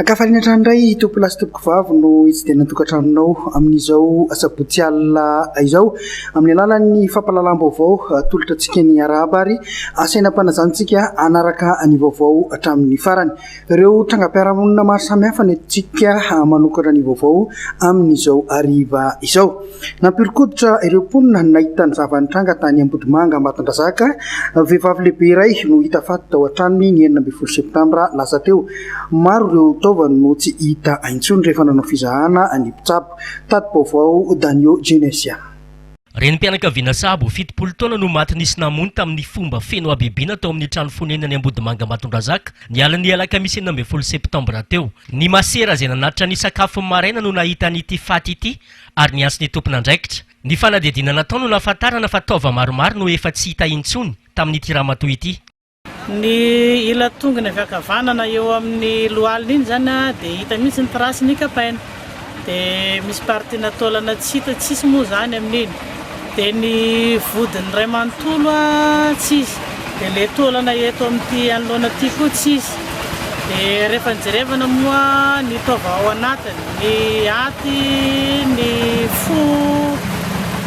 Ankafaliana hatrany indray tompolahy sy tompokovavy no hitsidihana ny tokantranonao amin'izao asabotsy alina izao. Amin'ny alalan'ny fampahalalam-baovao atolotra antsika ny Arahaba ary asaina am-panazahantsika hanaraka ny vaovao hatramin'ny farany. Ireo trangam-piarahamonina maro samihafa no entintsika manokatra ny vaovao amin'izao hariva izao. Nampihoron-koditra ireo mponina nahita ny zava-nitranga tany Ambodimanga Ambatondrazaka. Vehivavy lehibe iray no hita faty tao an-tranony ny enina ambin'ny folo septambra lasa teo. Maro ireo taovany no tsy hita intsony rehefa nanao fizahana ny mpitsabo. Tati-baovao Danio Genesia. Renim-pianakaviana sahabo fitopolo taona no maty nisy namono tamin'ny fomba feno habibiana tao amin'ny trano fonenany Ambodimanga Ambatondrazaka ny alin'ny alakamisy enina ambin'ny folo septambra teo. Ny masera izay nanatitra ny sakafon'ny maraina no nahita an'ity faty ity ary ny antson'ny tompon'andraikitra. Ny fanadihadiana natao no nahafantarana fa taova maromaro no efa tsy hita intsony tamin'ity ramatoa ity. Ny ila tongony avy ankavanana eo amin'ny lohaliny iny izany dia hita mihitsy ny trace-ny kapaina. Dia misy partie-na taolana tsy hita tsisy moa izany amin'iny. Dia ny vodiny iray manontolo tsy izy, dia ilay taolana eto amin'ity anoloana ity koa tsy izy. Dia rehefa jerevana moa ny taova ao anatiny, ny aty, ny fo,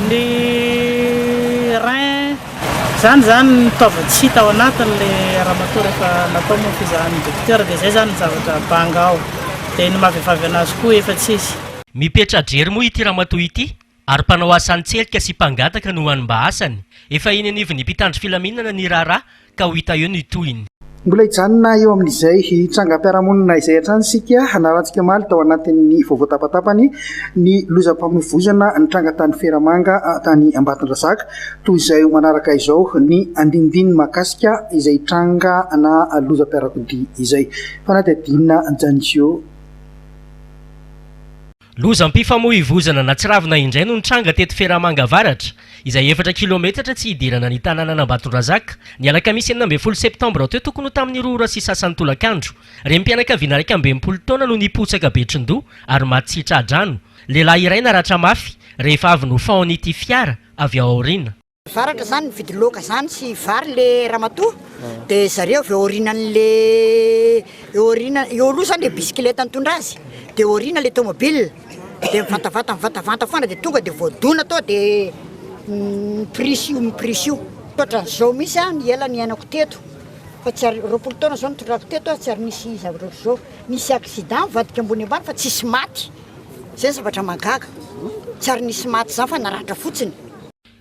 ny rein, izany izany ny taova tsy hita ao anatin'ilay ramatoa rehefa natao moa ny fizahan'ny dokotera, dia izay izany ny zavatra banga ao. Dia ny mahavehivavy an'azy koa efa tsy izy. Mipetra-drery moa ity ramatoa ity Ary mpanao asa an-tselika sy mpangataka no hany mba asany. Efa eny anivon'ny mpitandro filaminana ny raharaha ka ho hita eo ny tohiny. Mbola hijanona eo amin'izay trangam-piarahamonina izay hatrany isika narahantsika omaly tao anatin'ny vaovao tapatapany ny lozam-pamoivoizana nitranga tany Feramanga tany Ambatondrazaka. Toy izay ho manaraka izao ny andinindininy mahakasika izay tranga na lozam-piarakodia izay. Fanadihadiana Janjio. Lozam-pifamoivoizana natsiravina indray no nitranga teto Ferramanga Avaratra, izay efatra kilaometatra tsy hidirana ny tanànan'Ambatondrazaka, ny alakamisy enina ambin'ny folo septambra teo tokony ho tamin'ny roa ora sy sasany tolakandro. Renim-pianakaviana iraika amby enimpolo taona no nipotsaka betron-doha ary maty tsy tra-drano. Lehilahy iray naratra mafy rehefa avy nofaon'ity fiara avy ao aoriana. Varatra zany mividy loaka zany sy vary le ramatoa de zareo avy eo aorianany le eo aoriana eo aloha zany le bisikileta nitondra azy de eo aoriana le tomobile de mivantavanta mivantavanta foana de tonga de voadona tao de miprisy io miprisy io ohatran'izao misy a ny ela niainako teto fa tsy ary roapolo taona zao nitondrako teto a tsy ary nisy zavatra ohatr'izao nisy accident mivadika ambony ambany fa tsisy maty zay zavatra mahagaga tsy ary nisy maty zany fa naratra fotsiny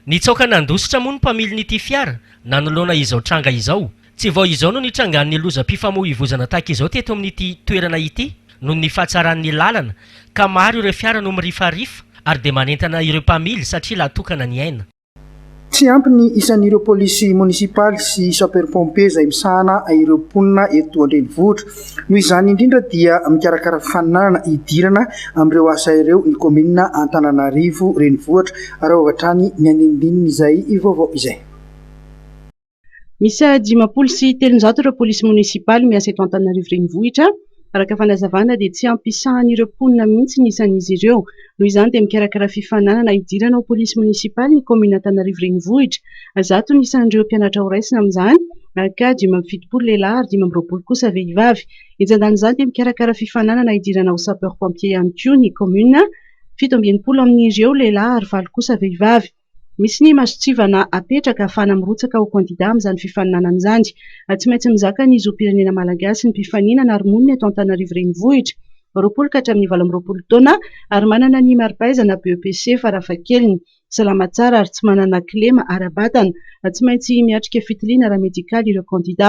Nitsaoka nandositra moa ny mpamilin'ity fiara nanoloana izao tranga izao. Tsy vao izao no nitrangan'ny lozam-pifamoivoizana tahaka izao teto amin'ity toerana ity noho ny fahatsaran'ny lalana ka maro ireo fiara no mirifarifa ary dia manentana ireo mpamily satria lahatokana ny aina. Tsy ampy ny isan'ireo polisy monisipaly sy sapeurs-pompiers izay misahana ireo mponina eto an-drenivohitra. Noho izany indrindra dia mikarakara fifaninanana hidirana amin'ireo asa ireo ny kaominina Antananarivo Renivohitra ary ao avy hatrany ny andinidinin'izay vaovao izay. Miisa dimampolo sy telonjato ireo polisy monisipaly miasa eto Antananarivo Renivohitra. Araka fanazavana dia tsy ampiasahan'ireo mponina mihitsy ny isan'izy ireo. Noho izany dia mikarakara fifaninanana hidirana ho polisy monisipaly ny kaominina Antananarivo Renivohitra. Zato ny isan'ireo mpianatra horaisina amin'izany ka dimy amby fitopolo lehilahy ary dimy amby roapolo kosa vehivavy. Entsan-danin'izany dia mikarakara fifaninanana hidirana ho sapeurs pompiers ihany koa ny kaominina, fito amby enimpolo amin'ireo lehilahy ary valo kosa vehivavy. Misy ny masontsivana apetraka ahafahana mirotsaka ho kandida amin'izany fifaninanana izany. Tsy maintsy mizaka ny zom-pirenena malagasy ny mpifaninana ary monina eto Antananarivo Renivohitra, roapolo ka hatramin'ny valo amby roapolo taona, ary manana ny mari-pahaizana BEPC farafahakeliny, salama tsara ary tsy manana kilema ara-batana. Tsy maintsy miatrika fitiliana ara-medikaly ireo kandida.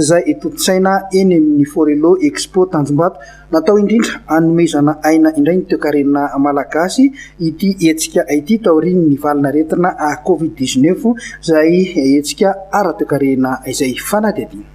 izay tontosaina eny amin'ny Forello Expo Tanjombato. Natao indrindra hanomezana aina indray ny toekarena malagasy ity hetsika ity taorian'ny valin'aretina Covid dix neuf izay hetsika ara-toekarena izay fanadihadiana.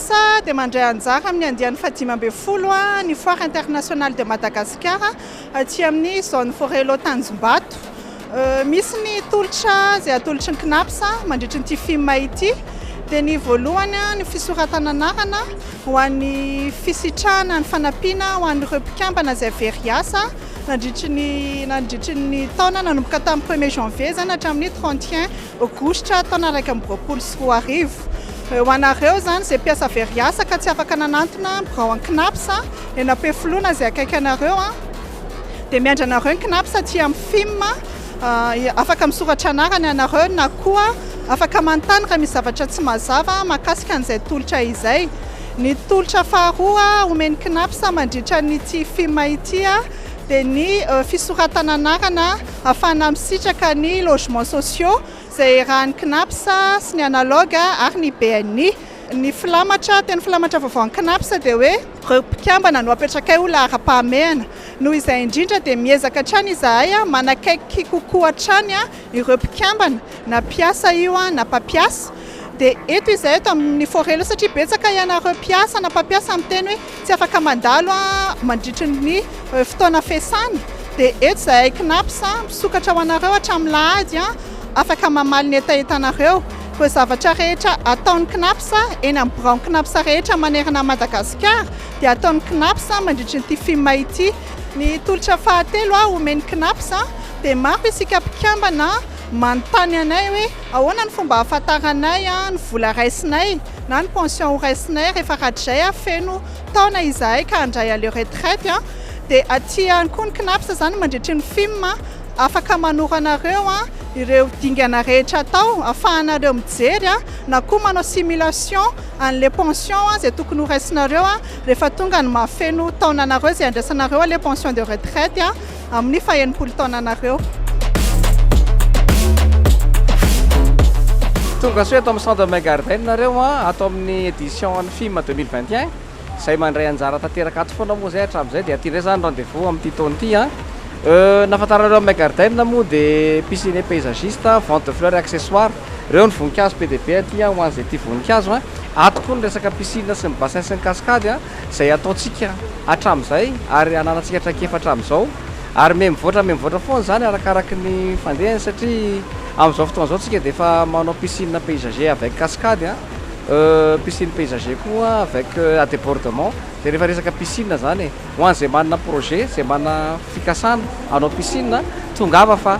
Sa dia mandray anjara amin'ny andiany fahadimy ambin'ny folo ny Foire Internationale de Madagascar aty amin'ny Zone Forello Tanjombato. Misy ny tolotra izay atolotry ny Cnaps mandritry ny ity fim ity. Dia ny voalohany ny fisoratana anarana ho an'ny fisitrahana ny fanampiana ho an'ireo mpikambana izay very hiasa nandritry ny nandritry ny taona nanomboka tamin'ny premier janvier izany hatramin'ny trente et un Aogositra taona iraika amby roapolo sy roa arivo. Ho anareo izany izay mpiasa very asa ka tsy afaka nanantona birao an'ny Cnaps eny Ampefiloha na izay akaiky anareo dia miandry anareo ny Cnaps aty amin'ny fim. Afaka misoratra anarana ianareo na koa afaka manontany raha misy zavatra tsy mazava mahakasika an'izay tolotra izay. Ny tolotra faharoa omen'ny Cnaps mandritra an'ity fim ity dia ny fisoratana anarana. Hafana misitraka ny logements sociaux izay iarahan'ny Cnaps sy ny Analogue ary ny BNI. Ny filamatra, teny filamatra vaovaon'ny Cnaps dia hoe, ireo mpikambana no apetrakay ho laharam-pahamehana. Noho izay indrindra dia miezaka hatrany izahay manakaiky kokoa hatrany ireo mpikambana, na mpiasa io na mpampiasa. Dia eto izahay eto amin'ny Forelo satria betsaka ianareo mpiasa na mpampiasa miteny hoe, Tsy afaka mandalo mandritry ny fotoana fiasana dia eto izahay Cnaps misokatra ho anareo hatramin'ny lahady afaka mamaly ny hetahetanareo. Ireo zavatra rehetra ataon'ny Cnaps eny amin'ny biraon'ny Cnaps rehetra manerana an'i Madagasikara dia ataon'ny Cnaps mandritry ity fim ity. Ny tolotra fahatelo omen'ny Cnaps dia maro isika mpikambana. Manontany anay hoe ahoana ny fomba ahafantaranay ny vola raisinay na ny pension ho raisinay rehefa radrjay avy feno taona izahay ka handray aleo retraite dia aty ihany koa ny cnaps izany mandritry ny fim afaka manoro anareo ireo dingana rehetra atao afahanareo mijery na koa manao simulation anle pension izay tokony ho raisinareo rehefa tonga ny mahafeno taona anareo izay handraisanareo le pension de retraite amin'ny fahenimpolo taonanareo. Tongasoa eto amin'ny Centre Bain Garden nareo an, ato amin'ny édition an'ny FIM 2021, izay mandray anjara tanteraka ato foana moa izay hatramin'izay dia aty indray izany rendez-vous amin'ity taona ity an. Ny nahafantaranareo amin'ny Bain Garden moa dia piscine paysagiste, vente de fleurs et accessoires, ireo ny voninkazo be dia be aty an, ho an'izay tia voninkazo an. Ato koa ny resaka piscine sy ny bassin sy ny cascade an. izay ataontsika hatramin'izay ary hananantsika traikefa hatramin'izao ary miha mivoatra miha mivoatra foana izany arakaraky ny fandehany satria amin'izao fotoana izao tsika dia efa manao piscine paysager avec cascade a piscine paysager koa avec à débordement dia rehefa resaka piscine izany e ho an'izay manana projet izay manana fikasana hanao piscine tongava fa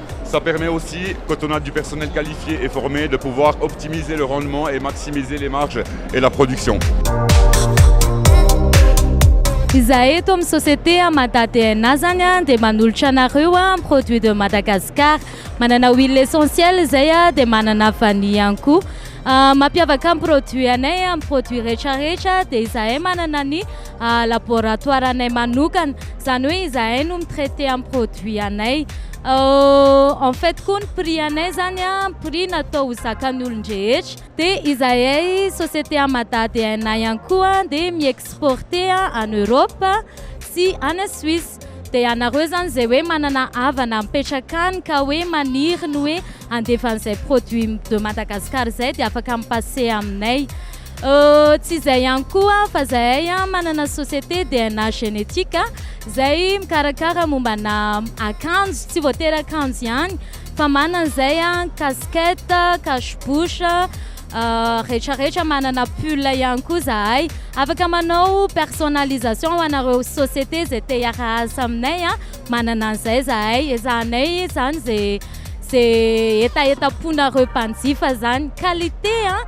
Ça permet aussi, quand on a du personnel qualifié et formé, de pouvoir optimiser le rendement et maximiser les marges et la production. Izahay eto amin'ny société Mada DNA zany a dia manolotra anareo a produit de Madagascar. Manana huile essentielle izay a dia manana vanille ihany koa. Mampiavaka ny produit anay amin'ny produit rehetra rehetra dia izahay manana ny laboratoire anay manokana zany hoe izahay no mitraiter amin'ny produit anay en fait koa ny prix anay zany a prix natao ho zakan'ny olon-drehetra dia izahay société Amada DNA ihany koa dia mi-exporter any Europe sy any Suisse dia ianareo zany izay hoe manana havana mipetraka any ka hoe maniry ny hoe handefa an'izay produit de Madagascar izay dia afaka mi-passer aminay Euh, tsy izay ihany koa fa zahay an, manana société DNA génétique izay mikarakara mombana akanjo, tsy voatery akanjo ihany fa manana izay an, casquette, cache bouche, euh, rehetrarehetra, manana pull ihany koa zahay. Afaka manao personnalisation ho anareo société izay te hiara-asa aminay an, manana an'izay zahay, ezahanay izany ze ze hetahetam-ponareo mpanjifa izany. Qualité an,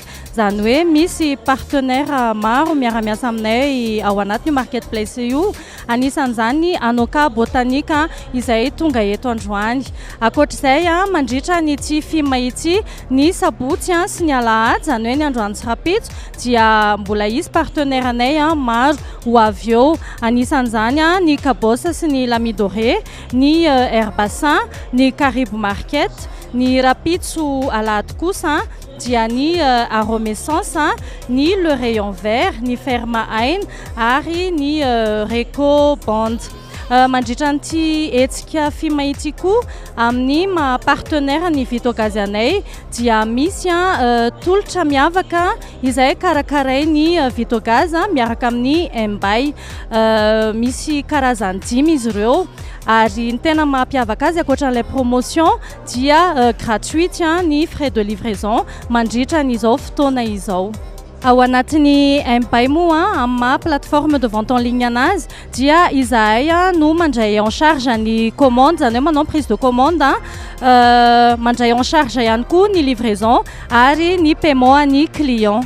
Izany hoe misy partenaires maro miara-miasa aminay ao anatin'io market place io, anisan'izany Anoka Botanic izay tonga eto androany. Ankoatra izay, mandritra an'ity fim ity, ny sabotsy sy ny alahady, izany hoe ny androany sy rahampitso, dia mbola hisy partenaires anay maro ho avy eo, anisan'izany ny Cabos sy ny L'Ami Doré, ny Air Bassin, ny Karibo Market, ny rahampitso alahady kosa. dia ny Aromescence, ny Le Rayon Vert, ny Ferma Ain ary ny Reco Band. Mandritra an'ity hetsika FIMA ity koa, amin'ny maha partenaire ny Vitogaz anay dia misy tolotra miavaka izay karakarain'ny Vitogaz miaraka amin'ny MBay. Misy karazany dimy izy ireo ary ny tena mampiavaka azy ankoatra an'ilay promotion dia gratuite ny frais de livraison mandritra an'izao fotoana izao. Ao anatin'ny MBay moa, amin'ny maha plateforme de vente en ligne anazy, dia izahay no mandray en charge ny commande, izany hoe manao ny prise de commande, mandray en charge ihany koa ny livraison ary ny paiement an'ny client.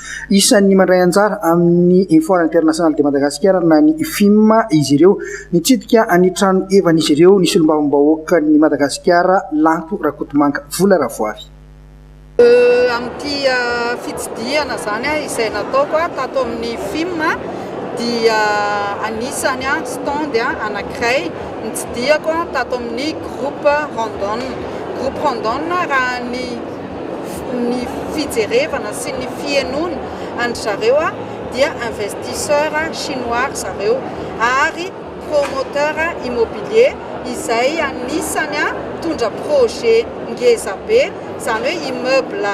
Isan'ny mandray anjara amin'ny Foire Internationale de Madagascar na ny Fim izy ireo. Nitsidika ny trano evan'izy ireo ny Solombavambahoakan'i Madagasikara Lanto Rakotomanga Vola Ravoavy. Amin'ity fitsidihana izany izay nataoko tato amin'ny Fim dia anisany stand anankiray nitsidihako tato amin'ny Groupe Randon. Groupe Randon raha ny. ny fijerevana sy ny fihenoana an-dry zareo dia investisseur chinois ry zareo ary promoteur immobilier izay anisany mitondra projet ngeza be izany hoe immeuble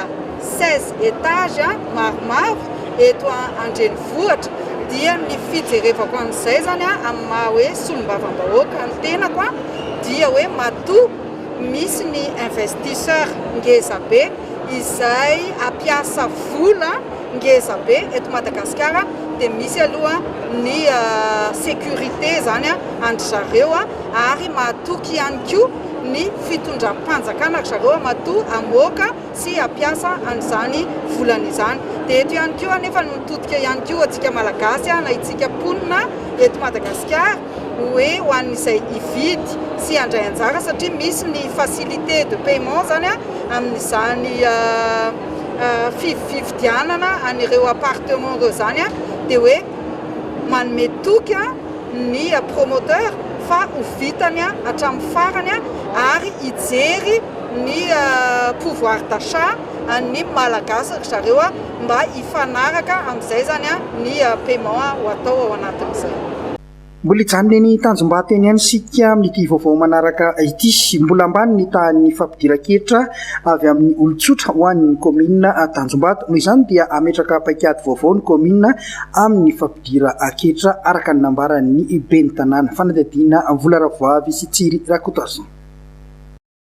seize étages maromaro eto an-drenivohitra dia ny fijerevako an'izay izany amin'ny maha hoe solombavambahoaka ny tenako dia hoe matoa Misy ny investisseur ngeza be izay hampiasa vola ngeza be eto Madagasikara dia misy aloha ny sécurité izany an-dry zareo ary mahatoky ihany koa ny fitondram-panjakana ry zareo matoa hamoaka sy hampiasa an'izany volana izany. Dia eto ihany koa anefa no mitodika ihany koa antsika Malagasy na isika mponina eto Madagasikara. hoe ho an'izay hividy sy handray anjara satria misy ny facilité de paiement izany amin'izany fividianana an'ireo appartement ireo izany dia hoe manome toky ny promoteur fa ho vitany hatramin'ny farany ary hijery ny pouvoir d'achat an'ny Malagasy ry zareo mba hifanaraka amin'izay izany ny paiement ho atao ao anatin'izay. Mbola hijanona eny Tanjombato eny ihany isika amin'ity vaovao manaraka ity. Mbola ambany ny tahan'ny fampidiran-ketra avy amin'ny olon-tsotra ho an'ny kaominina Tanjombato. Noho izany dia hametraka paikady vaovao ny kaominina amin'ny fampidiran-ketra, araka ny nambaran'ny ben'ny tanàna. Fanadihadiana Vola Ravoavy sy Tsiry Rakotoarison.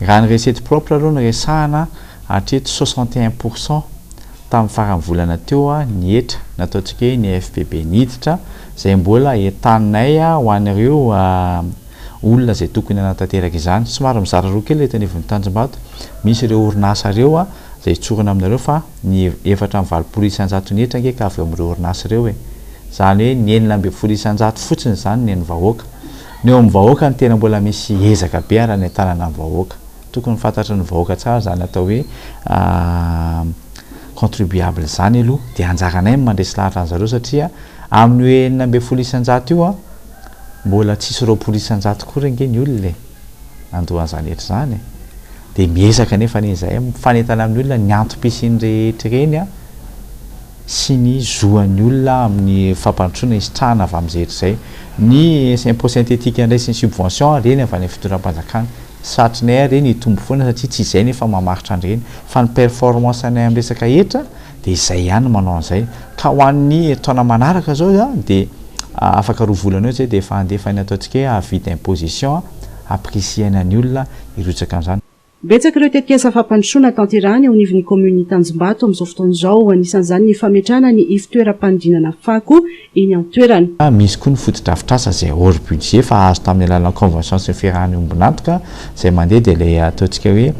Raha ny recette propre aloha no resahana, hatreto soixante et un pour cent tamin'ny faran'ny volana teo ny hetra nataontsika hoe ny FPB ny hiditra, izay mbola entanay ho an'ireo olona izay tokony hanatanteraka izany. Somary mizara roa kely eto anivon'ny Tanjombato, misy ireo orinasa ireo izay hitsorana aminareo fa ny efatra amby valopolo isanjato ny hetra ange ka avy eo amin'ireo orinasa ireo e! Izany hoe ny enina ambin'ny folo isanjato fotsiny izany ny an'ny vahoaka. Ny eo amin'ny vahoaka no tena mbola misy ezaka be ary anentanana ny vahoaka. Tokony fantatry ny vahoaka tsara izany atao hoe contribuable izany aloha dia anjaranay ny mandresy lahatra an'i zareo satria amin'ny hoe enina ambin'ny folo isan-jato io an, mbola tsisy roapolo isan-jato akory ange ny olona e! nandoa an'izany hetra izany e! dia miezaka anefa anie izahay mifanentana amin'ny olona ny antom-pisiany rehetra ireny an, sy ny zo an'ny olona amin'ny fampandrosoana hisitrahana avy amin'izay hetra izay ny impôt synthétique indray sy ny subvention ireny avy any amin'ny fitondram-panjakana satrinay ary ireny hitombo foana satria tsy izay no efa mamaritra an'ireny fa ny performance anay amin'ny resaka hetra dia izay ihany no manao an'izay ka ho an'ny taona manaraka izao izany dia afaka roa volana eo izay dia efa handefa ny ataontsika hoe avis d'imposition hampirisihaina ny olona hirotsaka amin'izany Betsaka ireo tetikasa fampandrosoana tanterahana eo anivon'ny kaominin'i Tanjombato amin'izao fotoana izao. Anisan'izany ny fametrahana ny ivontoeram-panodinana fako eny an-toerana. Misy koa ny fotodrafitrasa izay hors budget fa azo tamin'ny alalan'ny convention sy ny fiarahan'ny ombon'antoka izay mandeha dia ilay ataontsika hoe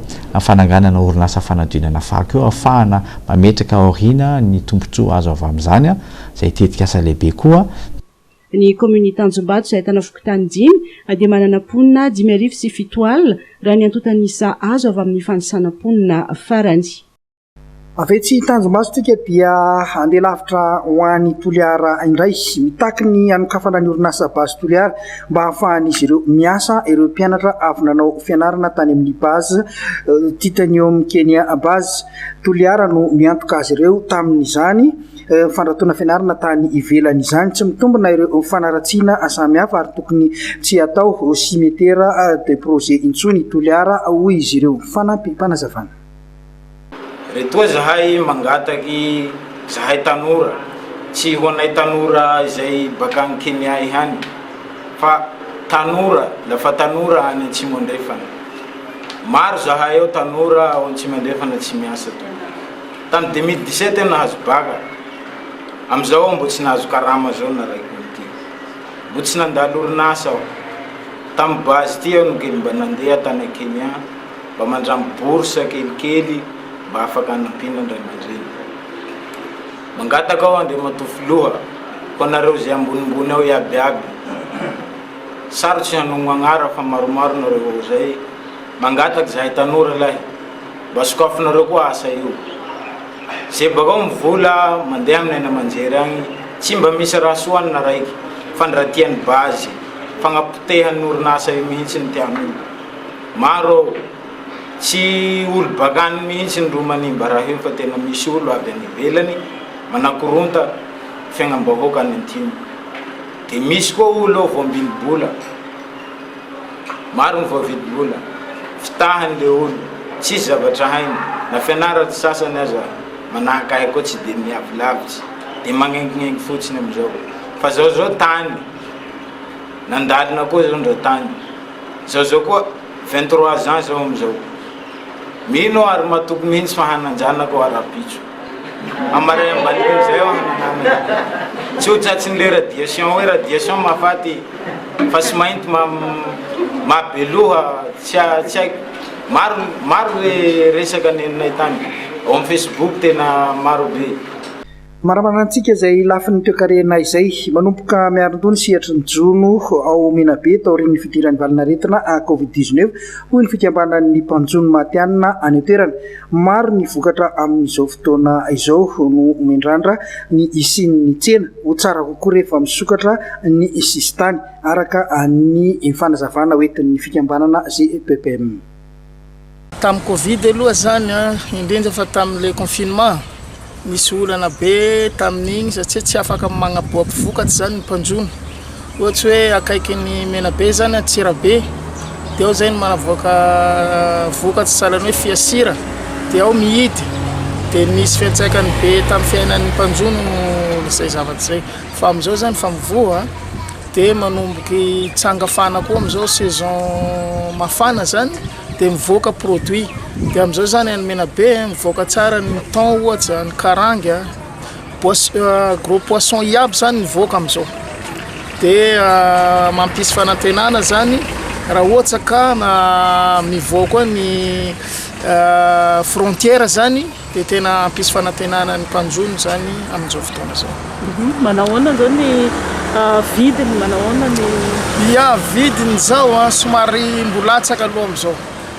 fananganana orinasa fanodinana fako io ahafahana mametraka aoriana ny tombontsoa azo avy amin'izany izay tetikasa lehibe koa Ny kaominin'i Tanjombato izay ahitana fokontany dimy dia manana mponina dimy arivo sy fito alina raha ny antontan'isa azo avy amin'ny fanisana mponina farany. Avy etsy Tanjombato isika dia handeha lavitra ho any Toliara indray. Mitaky ny hanokafana ny orinasa Base Toliara mba hahafahan'izy ireo miasa ireo mpianatra avy nanao fianarana tany amin'ny Base Titanium Kenya Base Toliara no miantoka azy ireo tamin'izany. fandratoana fianarana tany ivelany. Izany tsy mitombina ireo fanaratsiana samy hafa ary tokony tsy hatao simetera de projet intsony i Toliara, hoy izy ireo. Fanampim-panazavana. Retoa zahay mangataky zahay tanora, tsy ho anay tanora izay bakany Kenya ihany fa tanora la fa tanora any Atsimo Andrefana. Maro zahay ao tanora ao Atsimo Andrefana tsy miasa toy ny. Tany deux mille dix-sept aho nahazo bac, amizao aho mbo tsy nahazo karama zao naraiko ity. Mbo tsy nandalo orinasa aho. Tam base ity aho no kely mba nandeha tany Kenya mba mandramby bourse kelikely mba afaka anampiana andramanidreny. Mangataka aho Andriamatoa Filoha, ho anareo izay ambonimbony ao iaby aby, sarotsy hanogno agnara fa maromaro nareo ao zay, mangataka zahay tanora lahy, Mba sokafinareo koa asa io. Ze bakao am vola mandeha aminy any amanjery agny tsy mba misy raha soa anna raiky fa ny raha tiany base fagnapotehan'ny orinasa io mihitsy ny tiany olo maro ao tsy olo bakany mihitsy ny ro manimba raha io fa tena misy olo avy any ivelany manakoronta fiagnam bahoaka any antimo de misy koa olo ao voambili bola Maro ny voavidim-bola fitahany leolo, tsisy zavatra hainy, na fianarany sasany aza manahaka ahy koa tsy dia miavy lavitra, dia magnengingengy fotsiny amizao. Fa zao zao tany, nandalina koa zao ndra tany, zao zao koa vingt trois ans zao amizao. Mino aho ary matoky mihitsy fa hanan-janaka ho arapitso. Hamaray ambany eo zay hono namana. Tsy ho tratry ny le radiation hoe radiation mahafaty fa sy mainty mahabeloha tsy haiko maro maro le resaka nenonay tany ao amin'ny Facebook tena maro be. Manamana antsika izay lafiny toekarenay izay. Manomboka Miarindoha ny sehatry ny jono ao Menabe taorian'ny fidiran'ny valin'aretina Covid dix-neuf, hoy ny fikambanan'ny mpanjono matihanina any an-toerana. Maro ny vokatra amin'izao fotoana izao no mendrandra ny hisian'ny tsena. Ho tsara kokoa rehefa misokatra ny sisintany, araka ny fanazavana ho entin'ny fikambanana GEPPM. Tamin'ny covid aloha izany, indrindra fa tamin'ilay confinement, Nisy olana be tamin'iny satsia tsy afaka magnaboaky vokatra izany ny mpanjono. Ohatsy hoe akaiky ny Menabe izany, Antsirabe, dia ao izay no manavoaka vokatra sahalan'ny hoe fiasira, dia ao mihidy. Dia nisy fiantraikany be tamin'ny fiainan'ny mpanjono izay zavatra izay. Fa amin'izao izany efa mivoha dia manomboka hitsanga fana koa amin'izao saison mafana izany. dia mivoaka produit dia amin'izao izany any Menabe mivoaka tsara ny thon ohatra, ny karangy a, pois- euh, gros poisson iaby izany mivoaka amin'izao dia euh, mampisy fanantenana zany raha ohatra ka na mivoaka koa ny euh, frontière zany Dia tena hampisy fanantenana ny mpanjono izany amin'izao fotoana izao. Manao ahoana izao ny vidiny? Manao ahoana ny. Ia, vidiny izao an, somary mbola latsaka aloha amin'izao.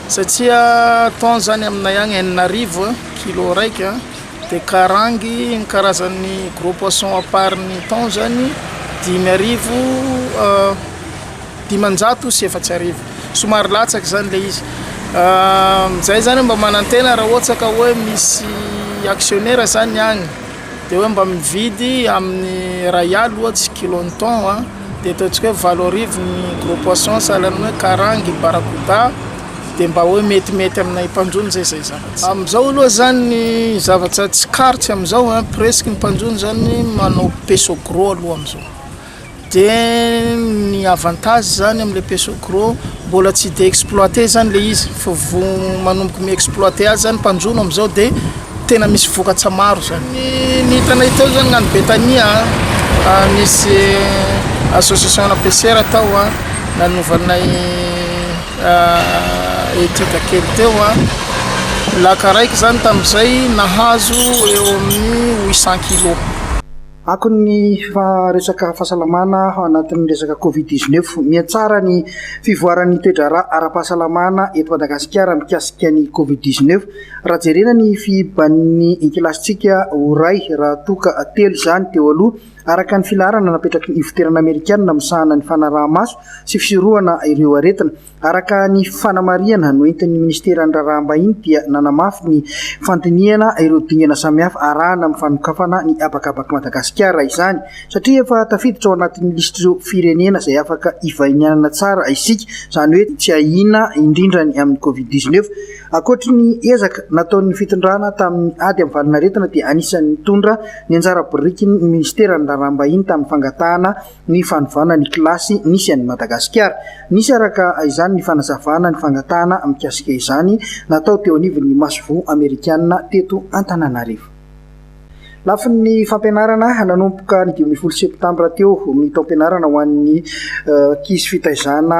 Satria thon izany aminay agny enina arivo kilo raika, dia karangy ny karazan'ny gros poisson à part ny thon izany dimy arivo. dimanjato sy efatsy arivo somary latsaka zany ilay izy zay zany mba manantena raha ohatra ka hoe misy actionnaire zany agny de hoe mba mividy amin'ny ray aly ohatsy kilon'ny ny thon a de ataontsika hoe valo arivo ny gros poisson sahalan'ny hoe karangy barracuda de mba hoe metimety aminay mpanjono zay zay zavatra amizao aloha zany ny zavatra tsikaritry amizao a presque ny mpanjono zany manao peso gros aloha amizao Dia ny avantage zany amle peso gro mbola tsy de exploite zany le izy fa vo manomboka mi exploite azy zany mpanjono amzao de tena misy vokatra maro zany. Ny hitanay teo zany nany betania an nisy association ana pessera tao an nanovanay etude kely teo an laka raiky zany tamzay nahazo eo aminy roa cent kilo. Akony ny fa resaka fahasalamana ao anatin'ny resaka covid dix neuf. Mihatsara ny fivoaran'ny toe-draharaha ara-pahasalamana eto Madagasikara mikasika ny covid dix neuf raha jerena ny fihiban'ny kilasintsika ho ray raha toa ka telo izany teo aloha araka ny filaharana napetraky ny ivoterana amerikana misahana ny fanaraha-maso sy fisorohana ireo aretina Araka ny fanamarihana noentin'ny Minisiteran'ny Raharaham-bahiny dia nanamafy ny fandinihana ireo dingana samihafa arahana amin'ny fanokafana ny habakabak'i Madagasikara izany satria efa tafiditra ao anatin'ny lisitr'ireo firenena izay afaka ivahinianana tsara isika, izany hoe tsy ahiana indrindra ny amin'ny Covid dix neuf. Ankoatry ny ezaka nataon'ny fitondrana tamin'ny ady amin'ny valinaretina dia anisan'ny nitondra ny anjara birikiny ny Minisiteran'ny Raharaham-bahiny tamin'ny fangatahana ny fanovana ny kilasy nisy an'i Madagasikara. Nisy araka izany ny fanazavana ny fangatahana mikasika izany natao teo anivon'ny masoivoho amerikana teto Antananarivo. Lafin'ny fampianarana, nanomboka ny dimy ambin'ny folo septambra teo ny taom-pianarana ho an'ny ankizy fitaizana,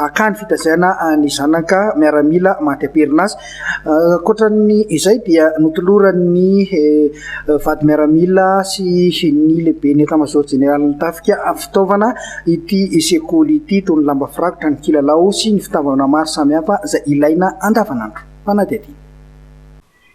akany fitaizana ny zanaka miaramila maty am-perinasa. Ankoatran'ny izay dia notoloran'ny vady miaramila sy ny lehiben'ny Etamazaoro jeneralin'ny tafika fitaovana ity sekoly ity toy ny lamba firakotra, ny kilalao sy ny fitaovana maro samihafa izay ilaina andavanandro. Fanadihadiana.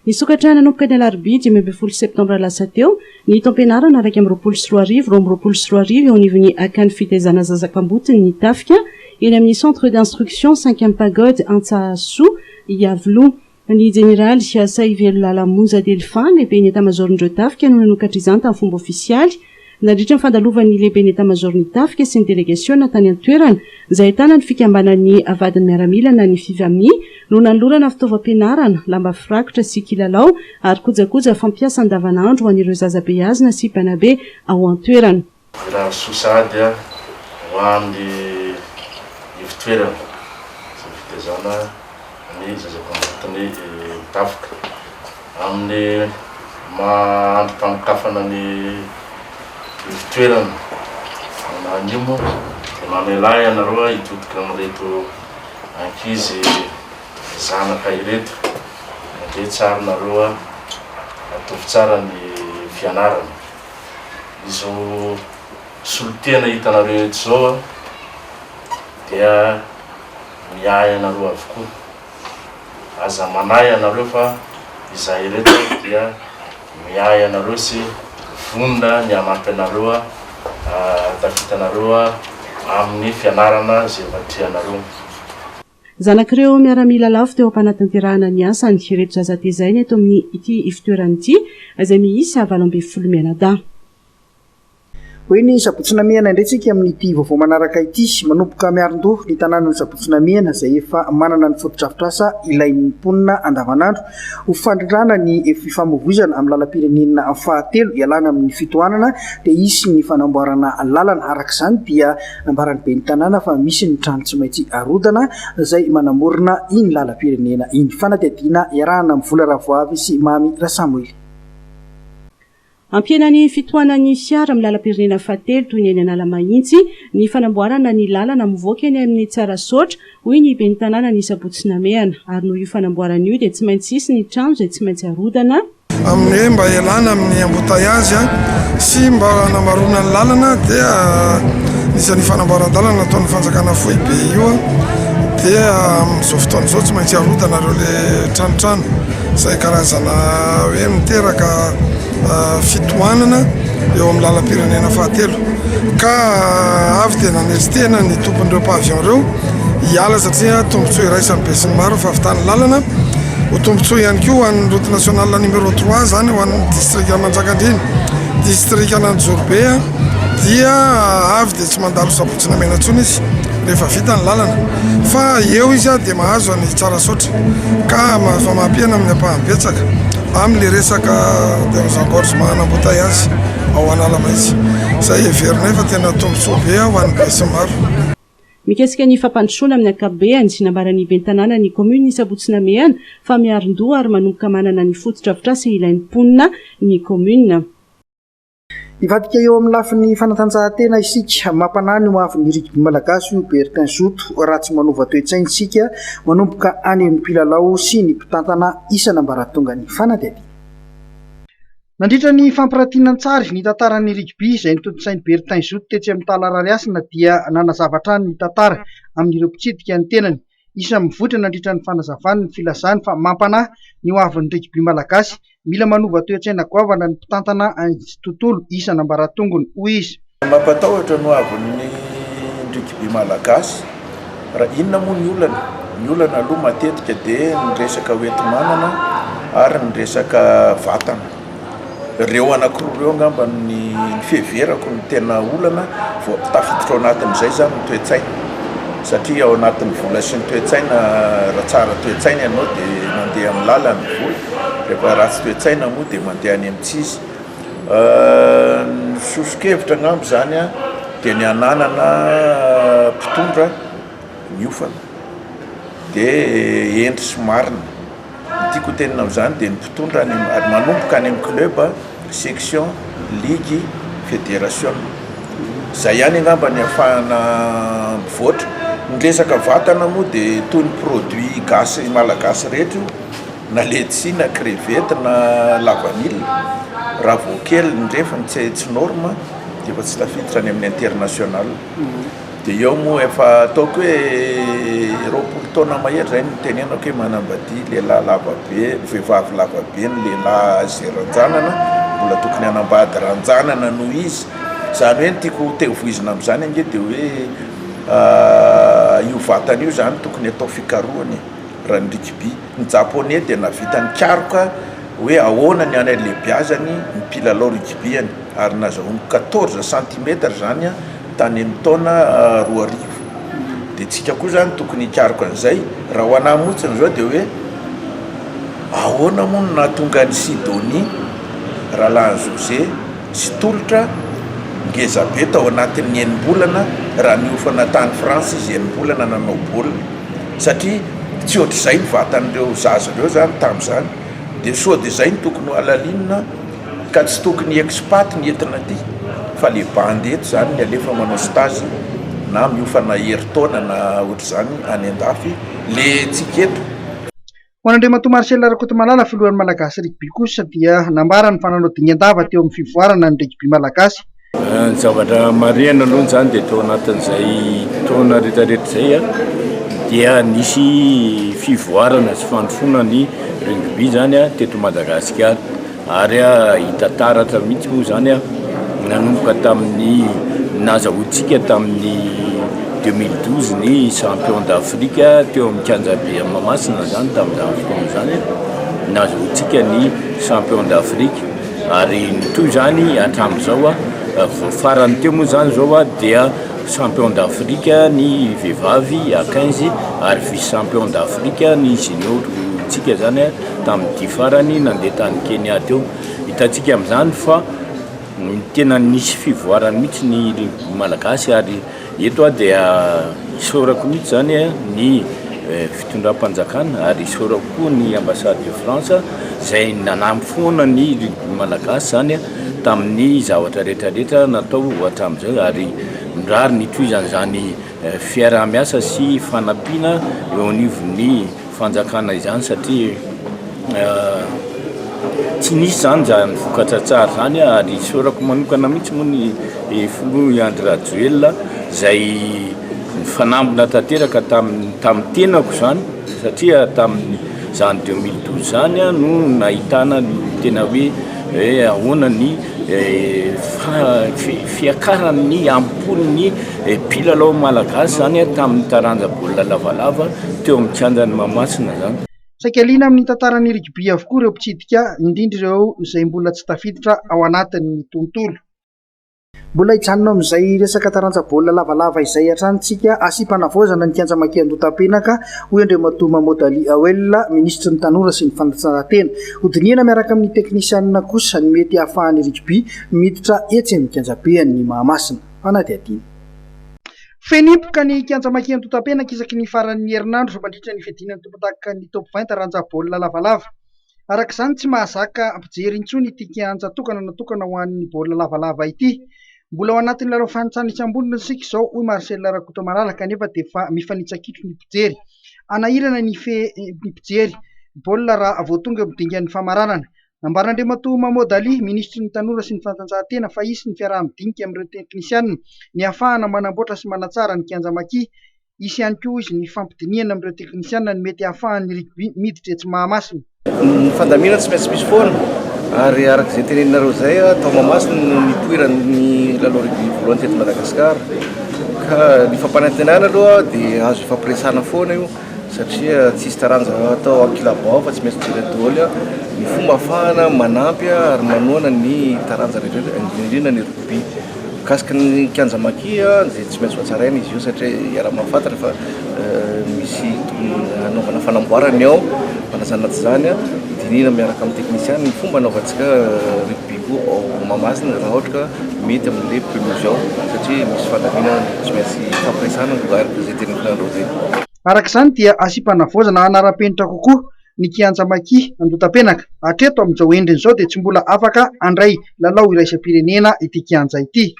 Nisokatra nanomboka ny alarobia dimy ambin'ny folo septambra lasa teo Ny taom-pianarana iraika amby roapolo sy roa arivo roa amby roapolo sy roa arivo eo anivon'ny Akan'ny fitaizana zaza kamboty ny tafika eny amin'ny Centre d'instruction Cinquième Pagode Antsahasoa Iavoloha. Ny Jeneraly Sahivelo Lala Monja Delphin, Lehiben'ny Etamazaoron'ireo tafika no nanokatra izany tamin'ny fomba ofisialy. Nandritra ny fandalovan'ny Lehiben'ny Etamazaoron'ny tafika sy ny delegasiona tany an-toerana izay ahitana ny fikambanan'ny vadin'ny miaramila na ny Fivami, no nanolorana fitaovam-pianarana, lamba firakotra sy kilalao ary kojakoja fampiasa andavanandro ho an'ireo zaza beazina sy mpanabe ao an-toerana. Ialany soa sahady ho an'ny ivotoerana sy ny fitaizana ny zazavavy anatiny tafika amin'ny maha andrim-panokafana ny ivotoerana na anio moa dia mamelà ianareo hitodika amin'ireto ankizy zanaka ireto dia tsara nareo atovy tsara ny fianarana izao solotena hitanareo eto izao dia miahy anareo avokoa. Aza manahy ianareo fa izahay ireto dia miahy anareo sy vonona ny hanampy anareo hahatafita anareo amin'ny fianarana izay efa trehanareo. Zanak'ireo miaramila lavo teo am-panatanterahana ny asany ireto zaza tezaina eto amin'ity ifotoerana ity izay miisa valo ambin'ny folo mianadahy. Hoy ny Sabotsy Namehana indray tsika amin'ity vaovao manaraka ity, Manomboka miarin-doha ny tanànan'i Sabotsy Namehana izay efa manana ny fotodrafitrasa ilain'ny mponina andavanandro ho fandrindrana ny fifamoivoizana amin'ny lalam-pirenena fahatelo ialana amin'ny fitohanana dia hisy ny fanamboarana lalana. Araka izany dia nambaran'ny ben'ny tanàna fa misy ny trano tsy maintsy arodana izay manamorona iny lalam-pirenena iny. Fanadihadiana iarahana amin'ny vola Ravoavy sy Mamy Rasamoily. Hampihena ny fitohanan'ny fiara amin'ny lalam-pirenena fahatelo toy ny eny Analamahitsy ny fanamboarana ny lalana mivoaka eny amin'ny Tsarasaotra, hoy ny ben'ny tanàna ny sabotsy namehana. Ary noho io fanamboarana io dia tsy maintsy hisy ny trano izay tsy maintsy harodana. Amin'ny hoe mba hialana amin'ny embouteillages sy mba hanamaroana ny lalana dia nisy an'io fanamboaran-dalana nataon'ny fanjakana foibe io dia amin'izao fotoana izao tsy maintsy harodana ireo ilay tranotrano. izay karazana hoe miteraka fitohanana eo amin'ny lalam-pirenena fahatelo ka avy dia nanery tena ny tompon'ireo pavillon ireo hiala satria tombontsoa iraisan'ny besinimaro ny fahavitan'ny lalana ho tombontsoa ihany koa ho an'ny route nationale numéro 3 izany ho an'ny distrika Manjakandriana distrikan'Anjorobe dia avy dia tsy mandalo sabotsy na mena intsony izy rehefa vita ny lalana fa eo izy dia mahazo an'ny Tsarasaotra ka mahazo famaham-piaina amin'ny ampahany betsaka amin'ilay resaka termes engorges maha an'embouteillage ao Analamaintsy, izay heverinay fa tena tombontsoa be ho an'ny besinimaro. Mikasika ny fampandrosoana amin'ny ankapobeany, nambaran'ny ben'ny tanànan'ny kaominina Isabotsy Namehana fa miarin-doha ary manomboka manana ny fotodrafitrasa ilain'ny mponina ny kaominina. Hivadika eo amin'ny lafiny fanatanjahantena isika. Mampanahy ny hoavin'ny rugby malagasy io Bertin Zoto raha tsy manova toe-tsaina isika manomboka any amin'ny mpilalao sy ny mpitantana isan'ambaratonga ny fanadihadiana. Nandritra ny fampirantiana an-tsary ny tantaran'ny rugby izay notontosain'i Bertin Zoto tetsy amin'ny Tala Rarihasina dia nanazava hatrany ny tantara amin'ireo mpitsidika ny tenany Isan'ny mivoitra nandritra ny fanazavany ny filazany fa mampanahy ny ho avin'ny rigby malagasy. Mila manova toe-tsaina goavana ny mpitantana an'ity tontolo isan'ambaratongony, hoy izy. Mampatahotra ny ho avin'ny rigby malagasy. Raha inona moa ny olana? Ny olana aloha matetika dia ny resaka hoenti-manana ary ny resaka vatana. Ireo anankiroa ireo angamba no ny fiheverako no tena olana vao tafiditra ao anatin'izay zany ny toe-tsaina satria ao anatin'ny vola sy ny toe-tsaina raha tsara toe-tsaina ianao dia mandeha amin'ny lalan'ny vola rehefa ratsy toe-tsaina moa dia mandeha any amin'ny tsy izy ny soso-kevitra angamba zany an dia ny hananana mpitondra miofana dia hendry sy marina Ny tiako ho tenina amin'izany dia ny mpitondra any amin'ny, manomboka any amin'ny club, section, ligue, federation. Izay ihany angamba no ahafahana mivoatra. Ny resaka vatana moa dia toy ny produit gasy malagasy rehetra io, na letchis, na crevette, na la vanille. Raha vao kely ny refiny tsy norme dia efa tsy tafiditra any amin'ny international. Dia eo moa efa ataoko hoe roapolo taona mahery izay no tenenako hoe manambadia lehilahy lava be, vehivavy lava be ny lehilahy izay ranjanana, mbola tokony hanambady ranjanana noho izy. Izany hoe ny tiako ho tevoizina amin'izany ange dia hoe io vatana io izany tokony atao fikarohana e, raha ny rugby. Ny Japoney dia nahavita nikaroka hoe ahoana ny halehibeazan'ny mpilalao rugby any ary nazahoany quatorze centimètres izany an! tany amin'ny taona roa arivo dia tsika koa zany tokony hikaroka an'izay raha ho anah motsiny zao dia hoe ahoana moa no nahatonga an'i Sidonie Ralahan'i José tsy tolotra ngeza be tao anatin'ny enim-bolana raha niofana tany France izy enim-bolana nanao baolina satria tsy ohatr'izay ny vatan'ireo zaza ireo zany tamin'izany dia sao dia izay no tokony hohalalinina Ka tsy tokony expat ny entina aty fa le bandy eto zany ny alefa manao stage na miofana herintaona na ohatr'izany any andafy le tsika eto. Ho an'Andriamatoa Marcel Rakotomalala, filohan'ny Malagasy Rugby kosa dia nambarany fa nanao dingan-dava teo amin'ny fivoarana ny rugby malagasy Ny zavatra marihana aloha izany dia tao anatin'izay taona rehetrarehetra izay dia nisy fivoarana sy fandrosoana ny rugby izany teto Madagasikara ary hita taratra mihitsy moa izany nanomboka tamin'ny nahazahoantsika tamin'ny deux mille douze ny champion d'Afrique teo amin'ny kianjabe Mahamasina izany tamin'izany fotoana izany nahazahoantsika ny champion d'Afrique. Ary mitohy izany hatramin'izao. Vao farany teo moa izany izao dia champion d'Afrique ny vehivavy à quinze ary vice champion d'Afrique ny junior-ntsika izany tamin'ny dia farany nandeha tany Kenya teo. Hitantsika amin'izany fa tena nisy fivoarany mihitsy ny Malagasy ary. Eto aho dia isaorako mihitsy izany ny fitondram-panjakana ary isaorako koa ny Ambassade de France izay nanampy foana ny rugby malagasy izany tamin'ny zavatra rehetra rehetra natao hatramin'izay ary mirary ny hitohizan'izany fiaraha-miasa sy fanampiana eo anivon'ny fanjakana izany satria tsy nisy izany izany vokatra tsara izany ary isaorako manokana mihitsy moa ny filoha Andry Rajoelina izay nifanambina tanteraka tamin'ny tamin'ny tenako izany satria tamin'izany deux mille douze izany no nahitana ny tena hoe Hoe ahoana ny fiakaran'ny ampon'ny mpilalao malagasy izany tamin'ny taranja baolina lavalava teo amin'ny kianjan'i Mahamasina izany. Saika liana amin'ny tantaran'ny rugby avokoa ireo mpitsidika, indrindra ireo izay mbola tsy tafiditra ao anatin'ny tontolo. Mbola hijanona ao amin'izay resaka taranja baolina lavalava izay hatrany isika, asiam-panavaozana ny kianja Maki Andotampenaka, hoy Andriamatoa Mahmoud Ali Awel, minisitry ny Tanora sy ny fanatsarantena. Hodinihana miaraka amin'ny teknisianina kosa ny mety hahafahan'ny Rugby miditra etsy amin'ny kianjabean'ny Mahamasina. Fanadihadiana. Feno hipoka ny kianja Maki Andotampenaka isaky ny faran'ny herinandro mandritra ny fiadiana ny tompondakan'ny Top vingt taranja baolina lavalava. Araka izany, tsy mahazaka mpijery intsony ity kianja tokana natokana ho an'ny baolina lavalava ity. Mbola ao anatin'ny lalao fahantrana isam-bolana isika izao, hoy Marcel Rakotomalala, kanefa dia efa mifanitsa-kitro ny mpijery. Hanahirana ny fe ny mpijery baolina raha vao tonga eo dingan'ny famaranana. Nambaran'Andriamatoa Mahmoud Ali, minisitry ny Tanora sy ny fanatanjahantena, fa hisy ny fiaraha-midinika amin'ireo teknisianina ny hahafahana manamboatra sy manatsara ny kianja Maki, Hisy ihany koa hoy izy ny fampidinihana amin'ireo teknisiana ny mety hahafahan'ny rugby miditra etsy Mahamasina. Ny fandaminana tsy maintsy misy foana ary araka izay teneninareo izay tao Mahamasina no nipoiran'ny lalao rugby voalohany teto Madagasikara ka ny fampanantenana aloha dia azo ifampiresahana foana io satria tsy hisy taranja atao an-kilabao fa tsy maintsy jerena daholo ny fomba hahafahana manampy ary manohana ny taranja rehetra indrindra indrindra ny rugby. Mikasika ny kianja Maki dia tsy maintsy hotsaraina izy io satria iaraha-mahafantatra fa misy tokony hanaovana fanamboarana ny ao hanajana tsy izany hodinihina miaraka amin'ny teknisiana ny fomba hanaovantsika rugby koa ao Mahamasina raha ohatra ka mety amin'ilay pelouse ao satria misy fandaminana tsy maintsy hifampiresahana araka izay teneniko anareo teny. Araka izany dia asiam-panavaozana hanara-penitra kokoa ny kianja Maki Andotapenaka. Hatreto amin'izao endriny izao dia tsy mbola afaka handray lalao iraisam-pirenena ity kianja ity.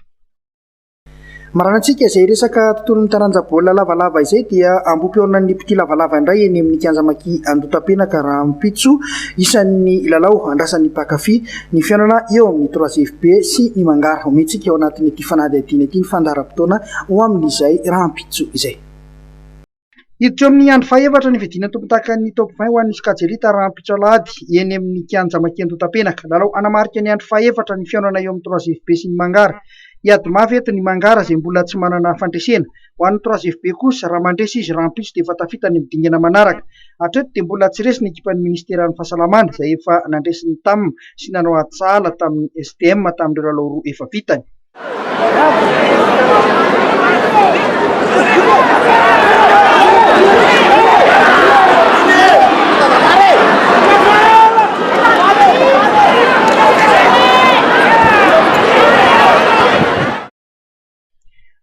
Maranantsika izay resaka tontolon'ny taranja baolina lavalava izay dia ambohipihaonan'ny mpitia lavalava indray eny amin'ny kianja Maki Andotapenaka rahampitso isan'ny lalao andrasan'ny mpankafy ny fihaonana eo amin'ny Troisiefb sy ny Mangara. Homentsika ao anatin'ity fanadihadiana ity ny fandaharam-potoana ho amin'izay rahampitso izay. Hiditra eo amin'ny andro fahefatra ny fiadiana tompon-takan'ny Top 20 ho an'ny sokajy Elite rahampitso alahady eny amin'ny kianja Mankendo Antapenaka. Lalao hanamarika ny andro fahefatra ny fihaonana eo amin'ny Trois FB sy ny Mangara. Hiady mafy eto ny Mangara izay mbola tsy manana fandresena. Ho an'ny Trois FB kosa, raha mandresy izy rahampitso dia efa tafita any amin'ny dingana manaraka. Hatreto dia mbola tsy resy ny ekipan'ny minisiteran'ny fahasalamana izay efa nandresy ny Tam sy nanao ady sahala tamin'ny STM tamin'ireo lalao roa efa vitany.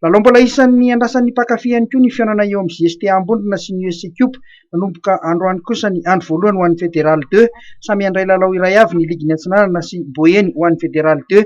Lalao mbola isan'ny andrasan'ny mpankafy ihany koa ny fihaonana eo amin'ny JSTA Ambondrona sy ny USC Cup. Nanomboka androany kosa ny andro voalohany ho an'ny Fédéral Deux. Samy handray lalao iray avy ny ligin'ny Atsinanana sy Boeny ho an'ny Fédéral Deux.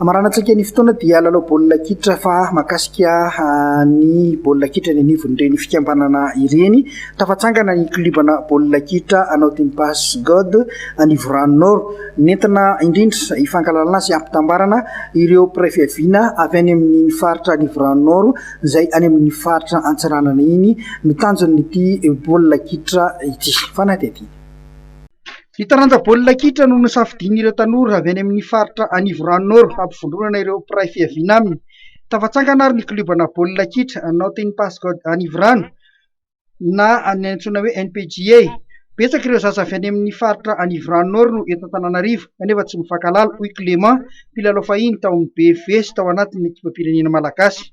Amaranantsika ny fotoana dia lalao baolina kitra fa makasika ah, ny baolina kitra ny anivon'ireny fikambanana ireny. Tafatsangana ny klibana baolina kitra anao Timpas God Anivorano Nord. Nentina indrindra hifankalalana sy hampitambarana ireo mpiray fiaviana avy any amin'ny faritra Anivorano Nord izay any amin'ny faritra Antsiranana iny no tanjon'ity baolina kitra ity. Fanadihadiana. Ny taranja baolina kitra no nosafidian'ireo tanora avy any amin'ny faritra Anivorano Nord hampivondronana ireo mpiray fiaviana aminy. Tafatsangana ary ny kliobanà baolina kitra Nothing Pass God Anivorano na ny antsoina hoe NPGA. Betsaka ireo zaza avy any amin'ny faritra Anivorano Nord no eto Antananarivo kanefa tsy mifankahalala, hoy Clément, mpilalao fahiny tao amin'ny BFV sy tao anatin'ny ekipam-pirenena malagasy.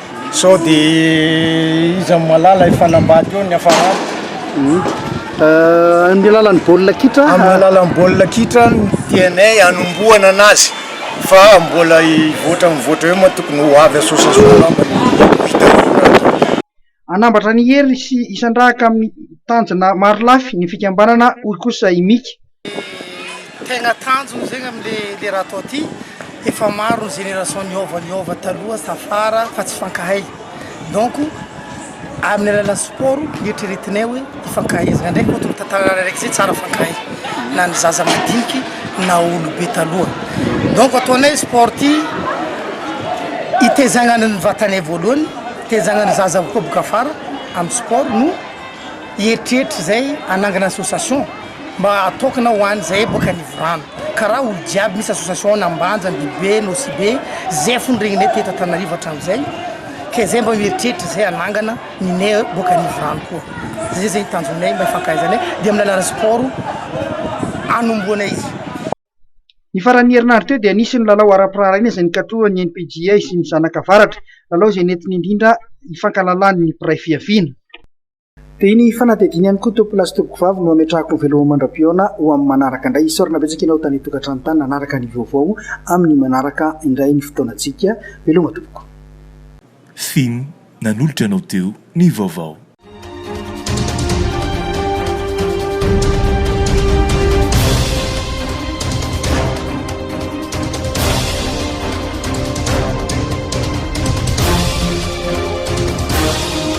Sao dia iza no mahalala efa nambady eo ny hafaranty. Amin'ny alalan'ny baolina kitra? Amin'ny alalan'ny baolina kitra no tianay hanombohana anazy fa mbola hivoatra mivoatra eo moa tokony ho avy association angamba no hitariana an'ireo. Hanambatra an'i Hery sy hisandrahaka amin'ny tanjona marolafy ny fikambanana, hoy kosa i Mika. Tegna tanjona zegny amle raha atao ty, efa maro ny génération niova niova taloha tafara fa tsy fankahay donc aminy alalan'ny sport nieritreretinay hoe ifankahaizana ndraiky moa tokony tantarana araiky zay tsara fankahay na ny zaza madiniky na olobe taloha donc ataonay sport ty itezagnana ny vatanay voalohany itezagnana ny zaza koa boka afara amy sport no hieritreritra zay hanangana association. Mba atokana ho any zay boka nivorana karaha olo jiaby misy association any ambanja andibobe nosibe zay fony regnine teto antananarivo atramizay ke zay mba mieritreritra zay anangana mine boka nivorano koa zay zay tanjonay mba ifankahaizanay de aminy alalan'ny sport anombohanay izy. Ny faran'ny herinandro teo dia nisy ny lalao ara-piraharaina izay nikatrohan'ny NPJA sy ny Zanaka Avaratra, lalao izay nentina indrindra hifankalalan'ny mpiray fihaviana. Dia ny fanadihadiana ihany koa Tompoko lahy sy Tompoko vavy no hametrahako ny veloma mandra-pihaona ho amin'ny manaraka indray. Isaorana betsaka ianao tany an-tokantrano tany nanaraka ny vaovao amin'ny manaraka indray ny fotoanantsika. Veloma Tompoko. Fin, nanolotra anao teo ny vaovao.